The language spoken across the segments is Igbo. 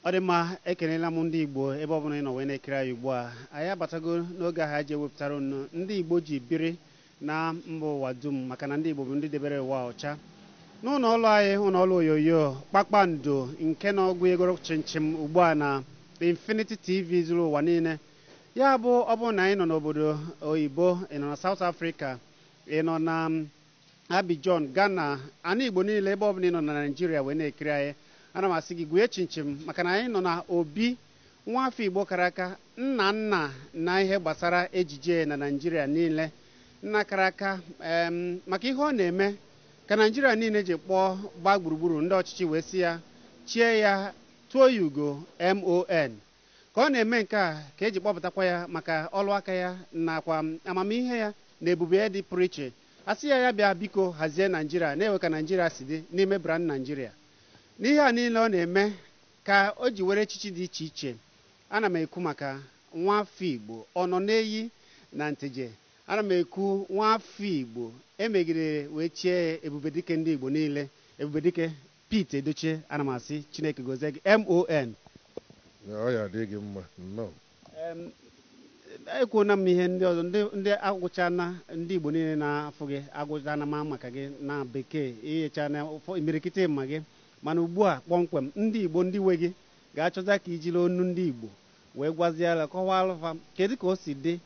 ọ dị mma ekelela m ndị igbo ebe ọbụla ị nọ wee na-ekiri anyị ugbu a anyị abatago n'oge ahụ anyị ji ewepụtara unu ndị igbo ji biri na mba ụwa dum maka na ndị igbo bụ ndị debere ụwa ọcha n'ụlọ ọrụ anyị ụlọ ọrụ onyonyo kpakpando nke na ọ gwuegoro chịmchịm ugbu a na infinity tv zuru ụwa niile ya bụ ọ bụrụ na anyị nọ n'obodo oyibo ị nọ na south africa ị nọ na Abidjan, Ghana, ana Igbo niile ebe ọbụla ị nọ na Naijiria wee na-ekiri anyị ana m asị gị gwue chịmchịm maka na anyị nọ na obi nwa afọ Igbo kara aka nna nna na ihe gbasara ejije na Naijiria niile nna kara aka em, maka ihe ọ na-eme ka Naijiria niile ji kpọọ gbaa gburugburu ndị ọchịchị wee sị ya chie ya tụọ ya ugo MON Ka ọ na-eme nke a ka e ji kpọpụtakwa ya maka ọlụ aka ya nakwa amamihe ya na ebube ya dị pụrụ iche. A sị ya ya bịa biko hazie Naịjirịa na-ewe ka Naịjirịa si dị n'ime Brand Nigeria. N'ihe a niile ọ na-eme ka o ji were echichi dị iche iche, ana m ekwu maka Nwafọ Igbo Ọnọnenyi na Nteje, ana m ekwu Nwafọ Igbo e megidere wee chie ya Ebubedike ndị Igbo niile, Ebubedike Pete Edochie ana m asị Chineke gozie gị MON. Ọ ya adị gị mma nnọọ. Em, ekwuona m ihe ndị ọzọ ndị ndị agụchana ndị Igbo niile na-afụ gị agụchana ma maka gị na bekee ịghechana ụfọ imirikiti ma gị mana ugbu a kpọmkwem ndị Igbo ndị nwe gị ga-achọzị ka i jiri onu ndị Igbo wee gwaziara kọwaalụ fa kedu ka o si dị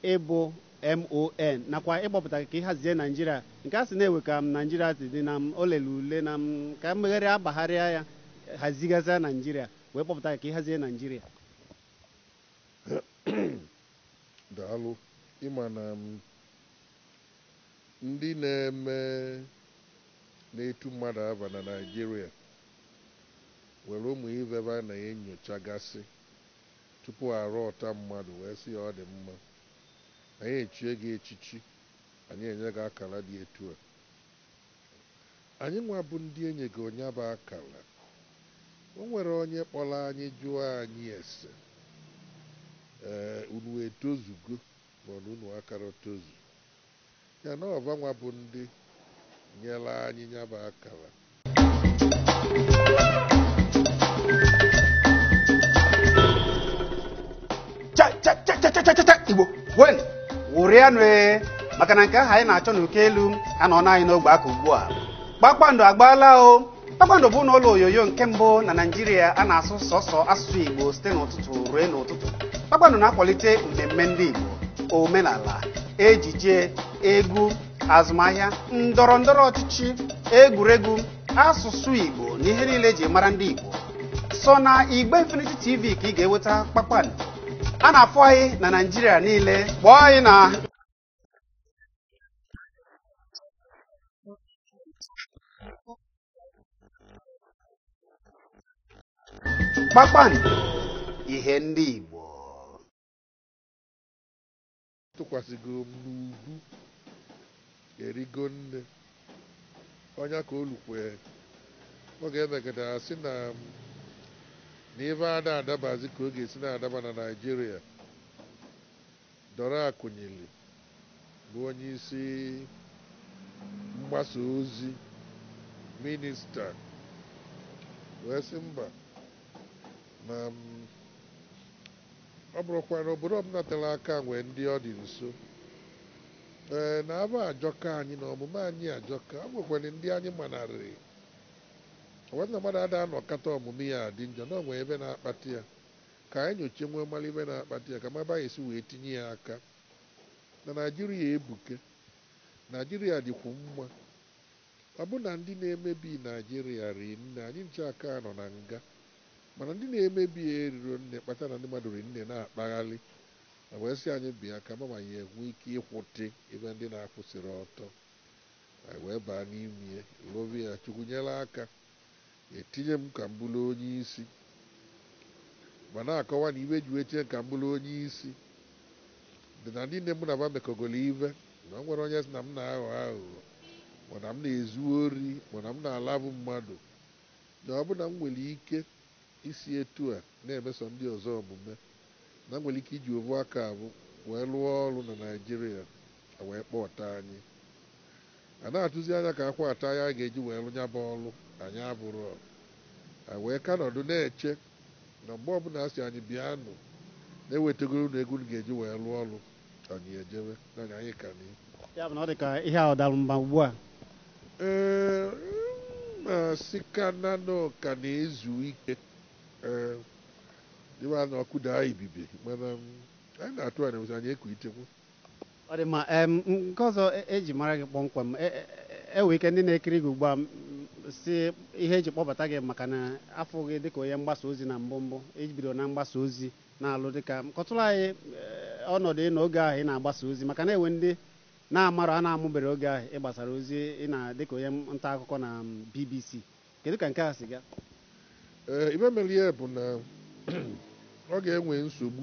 ịbụ MON nakwa ịkpọpụta gị ka ị hazie Naijiria nke a sị na-ewe ka Naijiria si dị na m o lere ule na m ka m megharịa agbagharịa ya hazigasịa Naijiria wee kpọpụta gị ka ị hazie Naijiria. Daalụ. Ị ma na ndị na-eme na-etu mmadụ ava na Naijiria nwere ụmụ ive va na-enyochagasị. Tupu a rọọta mmadụ wee sị ya, Ọ dị mma, anyị echie gị echichi, anyị enye gị akara dị etu a. Anyịnwa bụ ndị e nyego nya bụ akara, o nwere onye kpọrọ anyị jụọ anyị ese, Ee, unu etozugo ma ọ na unu akarọ tozu? Ya na ọ vanwa bụ ndị nyere anyị nya bụ akara. igbo ṅụrịanụ ee maka na nke ahụ anyị na-achọ n'uko elu anọna anyị n'ogbe aka ugbu a kpakpando agbaala o kpakpando bụ n'ụlọ onyonyo nke mbụ na naijiria a na-asụ sọsọ asụsụ igbo site n'ụtụtụ ruo n'ụtụtụ kpakpando na-akwalite mmemme ndị igbo omenala ejije egwu azụmahịa ndọrọ ndọrọ ọchịchị egwuregwu asụsụ igbo na ihe niile eji mara ndị igbo sọ na igbe infinity tv ka ị ga-enweta kpakpando a na-afụ anyị na naijiria niile kpọọ anyị na kpakpando ihe ndị Igbo tụkwasịgo m n'ubu erigo nne onye ka olukwe ọ ga-emegide a sị na na ife ada adabazi ka ọ ga-esi na-adaba na Naịjirịa Dora Akunyili bụ onyeisi mgbasa ozi minista wee sị mba na ọ bụrụkwa na obodo ọbụla tere aka nwee ndị ọ dị nso, ee, na ava ajọka anyị, na omume anyị ajọka, o nwekwara ndị anyị manarịị. O wee sị na mmadụ ada anọkata omume ya adị njọ, na o nwere ive na-akpata ya. Ka anyị nyochee wee mara ife na-akpata ya ka a mara ebe anyị esi wee tinye ya aka. Na Naịjirịa ebuke. Naịjirịa dịkwu mma. Ọ bụ na ndị na-emebi Naịjirịa ri nne, anyị ncha aka anọ na nga. Mana ndị na-emebi ya eriro nne kpata na ndị mmadụ ri nne na-akpaghalị. E wee sị anyị bịa ka a ma ma anyị enwe ike ịkwụtị ife ndị na-akwụsịrọ ọtọ. Anyị wee baa n'ime ya, lụba ya, Chukwu nyere aka. etinye m ka m bụrụ onyeisi ba na-akọwa na ive e ji wee tinye m ka m bụrụ onyeisi dị na ndị niine mụ na ba mekọgoro ive na o nwerọ onye sị na m na-aghọ aghụghọ ma na m na-ezu ori ma na m na-alavu mmadụ na ọ bụ na m nwere ike isi etu a na-emeso ndị ọzọ omume na m nwere ike iji ovu aka avụ wee lụọ ọrụ na Naịjirịa, e wee kpọta anyị. A na-atụzi anya ka a kwụọ ata anyị anyị ga-eji wee lụ ya bụ ọlụ, anyị avụrọ. Anyị wee ka nọdụ na-eche na mgbe ọbụla a sị anyị bịa nụ, na e wetegoro unu ego unu ga-eji wee lụọ ọlụ, anyị ejebe, na anyị anyị ka dị. Ya bụ na ọ dị ka ihe ahụ dara mba ugbu a? Ee, m na-asị ka na na ọ ka na-ezu ike. Ee, dịwa na ọkụ daa ibibi, mana anyị na-atụ anya wee sị anyị ekuitekwa. ọ dị mma em nke ọzọ e- eji mara gị kpọmkwem e- e- e- enwe ike ndị na-ekiri gị ugbu a m, si ihe eji kpọbata gị maka na a fụ gị dịka onye mgbasa ozi na mbụ mbụ iji bido na mgbasa ozi na-alụ dịka kọtụrụ anyị eh, ọnọdụ ị nọ oge ahụ ị na-agbasa ozi maka na enwe ndị na-amarọ a na-amụbere oge ahụ ị gbasara ozi ị na dịka onye nta akụkọ na mm, BBC kedu ka nke a si gaa Ee, ive mere ya bụ na ọ ga-enwe nsogbu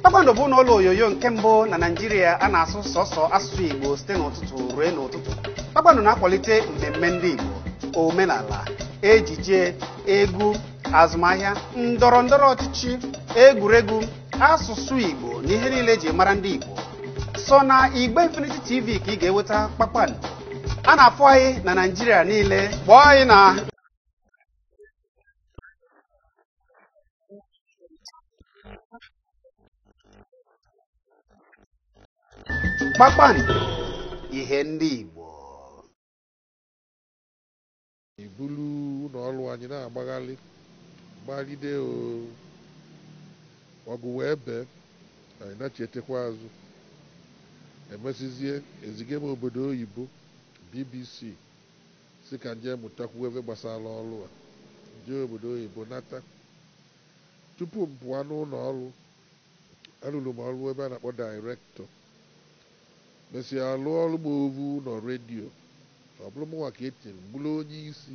kpakpando bụ n'ụlọ onyonyo nke mbụ na naijiria a na-asụ sọsọ asụsụ igbo site n'ụtụtụ ruo n'ụtụtụ kpakpando na-akwalite mmemme ndị igbo omenala ejije egwu azụmahịa ndọrọ ndọrọ ọchịchị egwuregwu asụsụ igbo na ihe niile eji mara ndị igbo sọ na igbe infinity tv ka i ga-enweta kpakpando a na-afụ anyị na naijiria niile kpọọ anyị na kpakpando ihe ndị Igbo ibulu ụlọ ọrụ anyị na-agbagharị gbalide ọgụ wee bee anyị nachitekwa azụ emesizie eziga m obodo oyibo bbc sị ka m je mụtakwuo ive gbasara ọrụ a, m jee obodo oyibo nata. Tupu m pụa n'ụnọ ọrụ, alụrụ m ọrụ ebe a na-akpọ Director, mesịa alụọrụ m ovu ụnọ redio, ọ bụrụ mụnwa ka e tinyere m bụrụ onye isi.